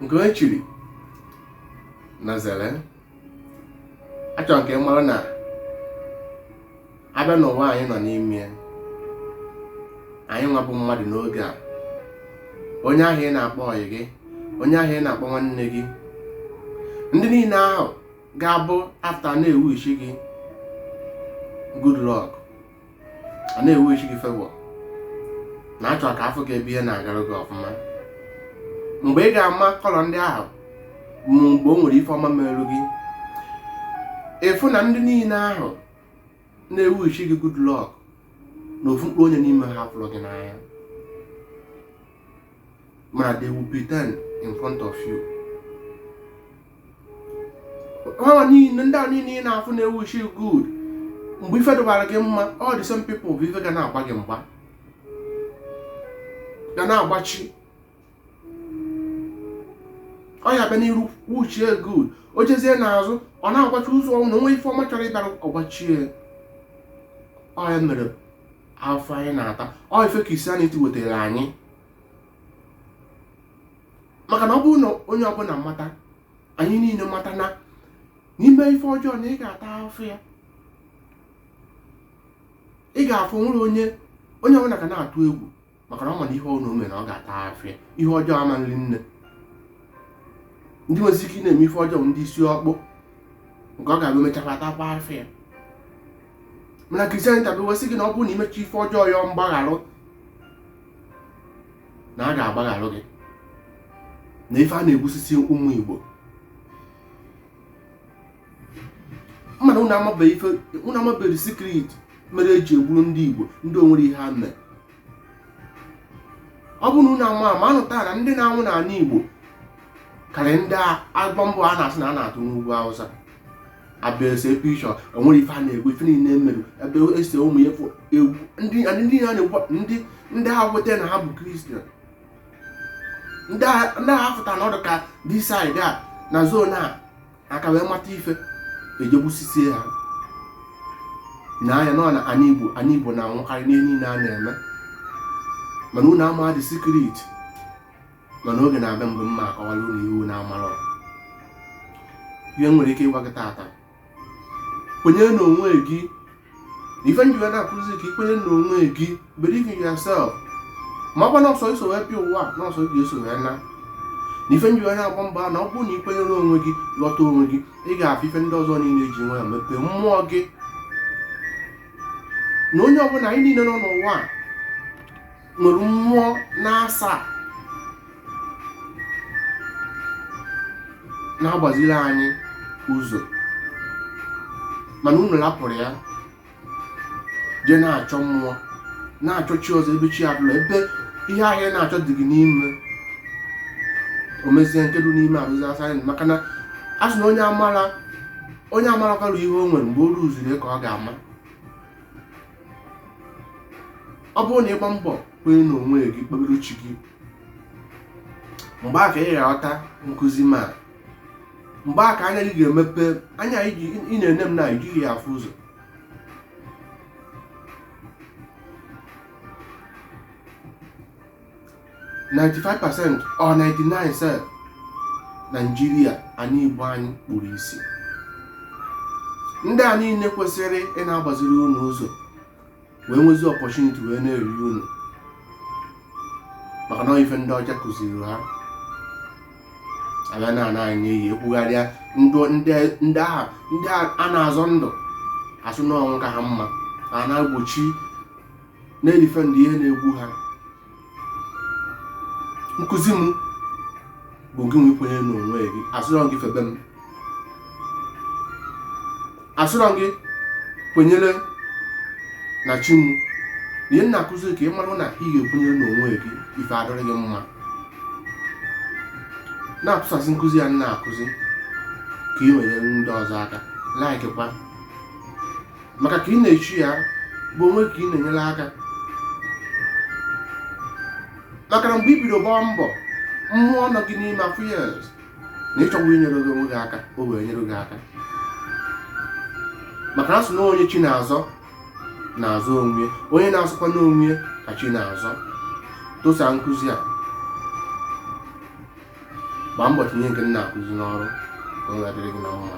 nke onye chiri nya zere achọrọ m ka ị mara na a bịa n'ụwa anyị nọ n'ime anyị nwa bụ mmadụ n'oge a onye ahụ ị na-akpọ ọyị gị onye ahụ ị na-akpọ nwanne gị ndị niile ahụ ga-abụ after na-ewishi gị good luck a na-ewishi gị favour na-achọ ka a fụ gị ebe ihe na-agara gị ọfụma mgbe ị ga-ama colour ndị ahụ ma mgbe o nwere ife ọma merụ gị ị fụ na ndị niile ahụ na-ewishi gị good luck na ofu mkpụrụ onye n'ime ha fụrụ gị n'anya ma they will pretend in front of you ha niile ndị a niile ị na-afụ na-ewishi good mgbe ife dụbara gị mma all the same people bụ ife ga na-agba gị mgba ga na-agbachi ọ ya bịa n'iru wishie good o jezie n'azụ ọ na-agbachi ụzọ ọ bụ na o nwee ife ọma chọrọ ịbịara ọ gbachie ọ ya mere afụfụ anyị na-ata ọ ife Christianity wetara anyị maka na ọ bụrụ na onye ọbụla mata anyị niile mata na na i mee ife ọjọọ na ị ga-ata afụfụ ya ị ga-afụ nwere onye onye ọbụla ga na-atụ egwu maka na ọ ma na ihe ọbụna o me na ọ ga-ata afụfụ ya ihe ọjọọ ama eri nne ndị nwezi ike na-eme ife ọjọọ ndị isi ọkpụ nke ọ ga-abụ e mechakwa atakwa afụfụ ya mana Christianity bịa wee sị gị na ọ bụrụ na i mecha ife ọjọọ yọọ mgbagharụ na a ga-agbagharụ gị na ife a na-egbusisi ụmụ Igbo mana unu amabeghị ife unu amabeghị secret mere e ji egburu ndị Igbo ndị o nwere ihe ha mere ọ bụrụ na unu ama ama anụta na ndị na-anwụ n'ana Igbo karịrị ndị a bomb a na-asị na a na-atụ n'ugwu Awụsa a bịa ese pichọ e nwere ife a na-egwu ife niile mere ebe ese ụmụ ya fụ egwu ndị adị ndị ha na-egbu ndị ndị ha weta na ha bụ Christian ndị a- ndị ha fụta na ọ dụ ka this side a na zone a aka wee mata ife e ji egbusisi ha na anyị nọ na ana igbo ana igbo na-anwụkarị n'ihe niile a na-eme mana unu ama dị secret mana oge na-abịa mgbe m ma-akọwara unu ya unu amara ihe m nwere ike ịgwa gị tata kwenye na onwe gị na ife m ji wee na-akụzi ka i kwenye na onwe gị believe in yourself ma ọkwa na ọ sọ ị so wee bịa ụwa na ọ sọ gị ga-eso wee naa na ife m ji wee na-agba mbọ na ọ bụrụ na i kwenyere onwe gị ghọta onwe gị ị ga-afụ ife ndị ọzọ niile ji nwe ya mepee mmụọ gị na onye ọbụla anyị niile nọ n'ụwa a nwere mmụọ n'asaa na-agbaziri anyị ụzọ mana unu rapụrụ ya jee na-achọ mmụọ na-achọ chi ọzọ ebe chi abụla ebe ihe ahụ a na-achọ dị gị n'ime o mezie nke dị n'ime arụsị asaa anyị maka na a sị na onye amara onye amara kwalụ ihe o nwere mgbe o ruziri ka ọ ga-ama ọ bụrụ na ị gbaa mbọ kwenye na onwe gị kpebiri uche gị mgbe a ka ị ga-aghọta nkụzi m a mgbe a ka anya gị ga-emepe anya ị na-ene m na i jighị ya afụ ụzọ 95 percent or 99 sef naijiria anyị igbo anyị kpuru isi ndị a niile kwesịrị ịna-agbaziri unu ụzọ wee nwezie opportunity wee na-eri unu maka na ife ndị ọcha kụziri ha abịa na ana anyị eyi ebugharịa ndụ ndị ndị ahụ ndị a na-azọ ndụ asị na ọnwụ ka ha mma a na-egbochi na-edefend ihe na-egbu ha nkụzi m bụ gị nwe ikwenye n'onwe gị asịrọ m gị febe m asịrọ m gị kwenyere na chi m na ihe m na-akụzi ka ị mara na ị ga-ekwenyere n'onwe gị ife adịrị gị mma na-atụsasị nkụzi a m na-akụzi ka ị wee nyere ndị ọzọ aka likekwa maka ka ị na-eshare ya bụ onwe ka ị na-enyere aka maka na mgbe i bido gbaa mbọ mmụọ nọ gị n'ime afụ ya na ị chọgo inyere gị onwe gị aka o wee nyere gị aka maka na a sị na onye chi na-azọ na-azọ onwe onye na-azọkwa onwe ka chi na-azọ tụsaa nkụzi a gbaa mbọ tinye nke m na-akụzi n'ọrụ ka ọ ga-adịrị gị na mma